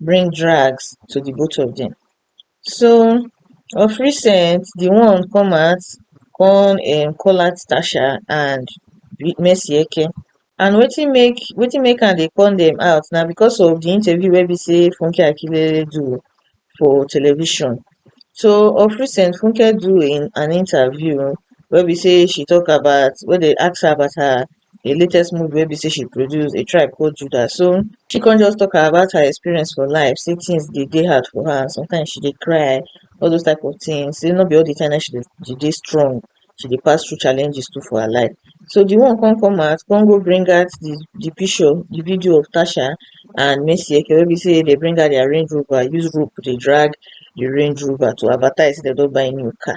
bring drags to the both of them. So of recent, the one come out, come um, call out Tasha and Messieke. And wetin make wetin make am dey call them out na because of the interview wey be say Funke Akindele do for television. So of recent, Funke do in an interview where we say she talk about where they ask her about her the latest movie wey be say she produce a tribe called judah so she come just talk about her experience for life say things dey dey hard for her sometimes she dey cry all those type of things say no be all the time na she dey she dey strong she dey pass through challenges too for her life so the one come come out come go bring out the the picture the video of tasha and Mercy Eke wey be say they bring out their Range Rover use rope dey drag the Range Rover to advertise say dem don buy new car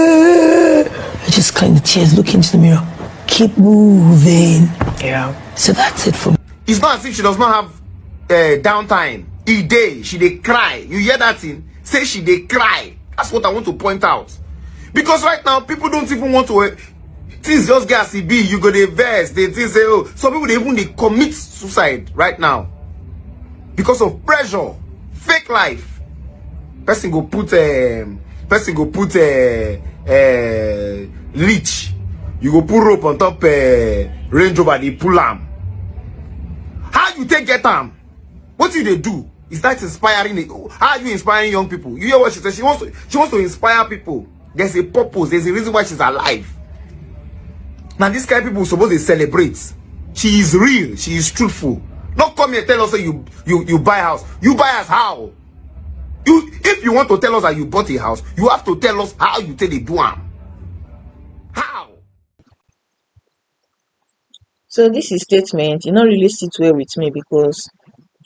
I just cleaned the tears, look into the mirror. Keep moving. Yeah. So that's it for me. It's not as if she does not have uh, downtime. E day, she they cry. You hear that thing? Say she they cry. That's what I want to point out. Because right now, people don't even want to... Uh, things just get as e be you go dey vex dey think say oh some people dey even dey commit suicide right now because of pressure fake life person go put um, person go put uh, uh, leech you go put rope on top uh, range rover dey pull am how you take get am what you dey do is that inspiring how are you inspiring young people you hear what she say she wants to she wants to inspire people there's a purpose there's a reason why she's alive Now this kind of people supposed to celebrate she is real she is truthful Don't come here tell us that you you you buy house you buy us how you if you want to tell us that you bought a house you have to tell us how you take the do So dis his statement e no really sit well with me because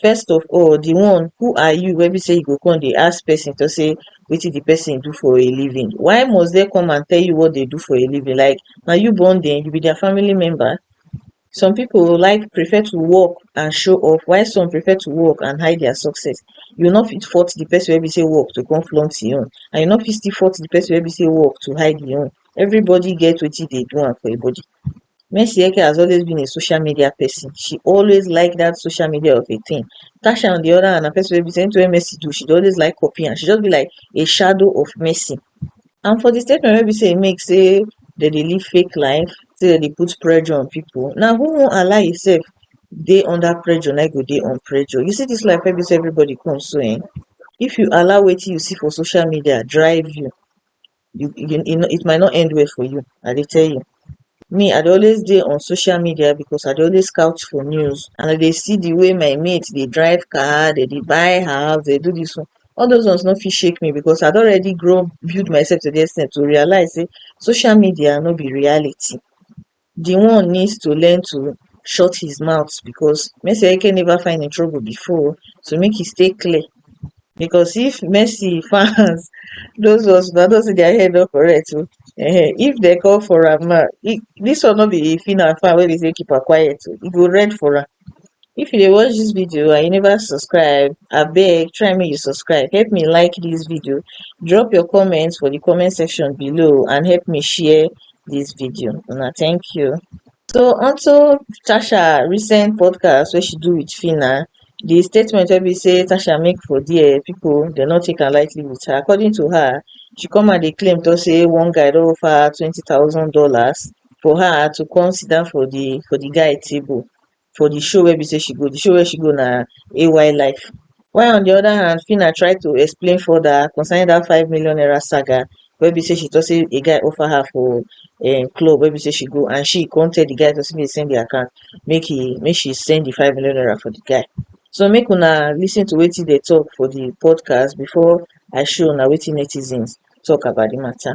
first of all di one who are you wey be sey you go come dey ask person to say wetin di person do for a living why must dem come and tell you what dem do for a living like na you born dem you be their family member some people like prefer to work and show off while some prefer to work and hide their success you no fit force di person wey be sey work to come flaunt him own and you no fit still force di person wey be sey work to hide him own Everybody get wetin dey do am for im body. Mercy Eke has always been a social media person. She always like that social media of a thing. Tasha on the other hand na person wey be say anything wey Mercy do, she dey always like copy am. She just be like a shadow of Mercy. And for the statement wey be say e make say dem dey live fake life, say dem dey put pressure on people, na who wan allow himself dey under pressure na im go dey on pressure. You see this life wey be say everybody come so um, if you allow wetin you see for social media drive you, you you e no it might not end well for you I dey tell you me I dey always dey on social media because I dey always scout for news and I dey see the way my mate dey drive car dem dey buy house dem dey do this one all those ones no fit shake me because I don already grow build myself to the extent to realize sey social media no be reality the one needs to learn to shut his mouth because Messi never find in trouble before so make he stay clear because if Messi fans those ones na don see their head no correct o oh. eh, if they call for am now this one no be Fina fan wey be say keep her quiet o oh. e go red for am if you dey watch dis video and you never subscribe abeg try make you subscribe help me like dis video drop your comment for di comment section below and help me share dis video una thank you so onto tasha recent podcast wey she do with phyna di statement wey be say tasha make for there pipo dem no take am lightly with her according to her she come out dey claim tok say one guy don offer her twenty thousand dollars for her to come sit down for the for the guy table for the show wey be say she go the show wey she go na AY life while on the other hand Phyna try to explain further concerning that five million naira saga wey be say she talk say a guy offer her for um club wey be say she go and she come tell the guy to say make he send the account make he make she send the five million naira for the guy so make una lis ten to wetin they talk for the podcast before I show una wetin netizens talk about the matter.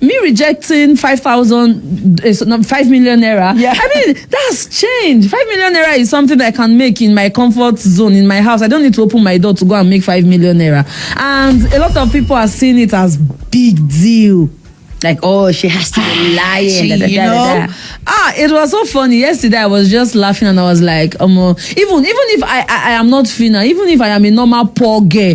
me rejecting five thousand, eh, so, no, five million naira. Yeah. I mean, that's change. Five million naira is something that I can make in my comfort zone in my house. I don't need to open my door to go and make five million naira. And a lot of people are seeing it as big deal. Like, oh, she has to be lying. She, da, da, you da, da, know, da. ah, it was so funny. Yesterday, I was just laughing and I was like, um, even even if I, I I am not Fina, even if I am a normal poor girl,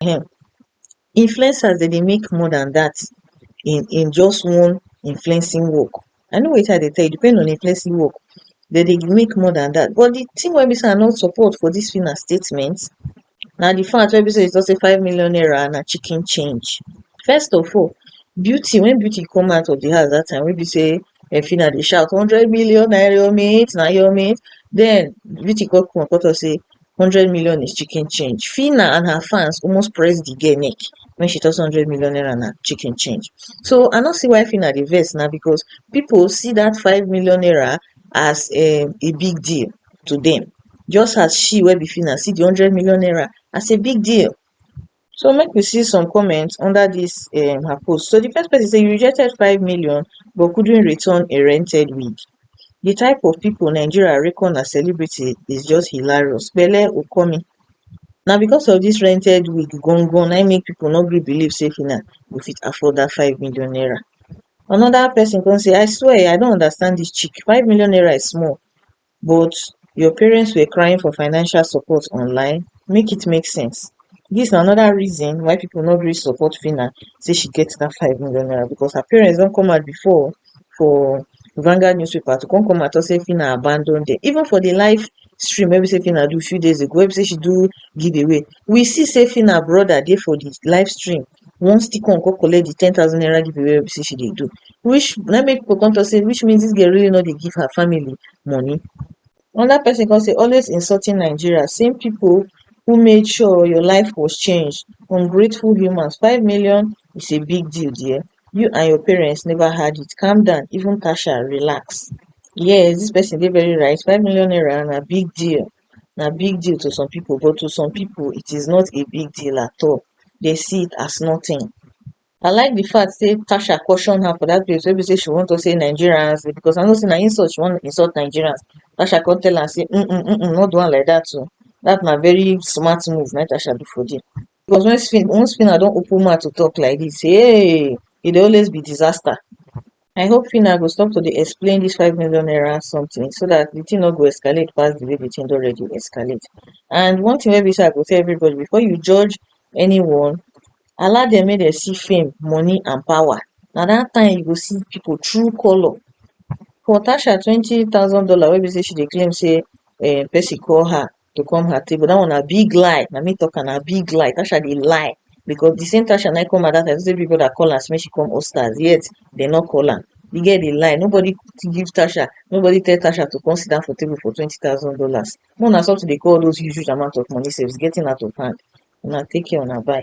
um influencers dem dey make more than that in in just one influencing work i know wetin i dey tell you depend on influencing work dem dey make more than that but the thing wey be say i no support for this Phyna statement na the fact wey be say e talk say five million naira na chicken change first of all beauty when beauty come out of the house that time wey be say dem fit na dey shout hundred million na your mate na your mate den Viti kon kon kon talk sey hundred million is chicken change Phyna and her fans almost press di girl neck wen she talk sey hundred million naira na chicken change so I no see why Phyna dey vex na bcos pipu see dat five million naira as a big deal to dem just as she wey be Phyna see di hundred million naira as a big deal so make we see some comments under dis um her post so di first pesin say you rejected five million but couldn't return a rented wig di type of pipo nigeria reckon as celebrity is just hilarious pele okomi na becos of dis rented wig gan gan na im make pipo no gree believe say phyna go fit afford dat five million naira anoda pesin come say I swear I no understand dis chick five million naira is small but your parents were crying for financial support online make it make sense dis na anoda reason why pipo no gree support phyna say she get dat five million naira becos her parents don come out before for Vanguard newspaper to come come out tok say phyna abandon dem even for di live stream wey be say phyna do few days ago wey be say she do give away we see say phyna broda dey for di live stream once di con con collect di ten thousand naira giveaway wey be sey she dey do which na im make pipu come talk sey which means dis girl really no dey give her family money another person come say always insulting Nigeria same pipu who made sure your life was changed ungrateful humans five million is a big deal dear you and your parents never had it calm down even Tasha relax yes dis person dey very right five million naira na big deal na big deal to some pipo but to some pipo it is not a big deal at all dem see it as nothing I like di fact sey Tasha caution her for dat place wey be sey she wan talk sey Nigerians because I know sey na insult she wan insult Nigerians Tasha come tell am sey um um um no do am like dat oh dat na very smart move na im Tasha do for there Because when spin when spinner don open mouth to talk like this, hey, e dey always be disaster. I hope Fina go stop to dey explain this five million naira something so that the thing no go escalate pass the way the thing don already escalate. And one thing wey be say I go tell everybody before you judge anyone, allow them make dem see fame, money and power. Na that time you go see people true colour. For Tasha twenty thousand dollar wey be say she dey claim say um person call her to come her table dat one na big lie na me talk am na big lie tasha dey lie because the same tasha na come her dat time say big brother call am say make she come host stars yet dem no call am the girl dey lie nobody give tasha nobody tell tasha to come sit down for table for twenty thousand dollars make una stop to dey call all those huge huge amount of money sef it's getting out of hand una take care una bye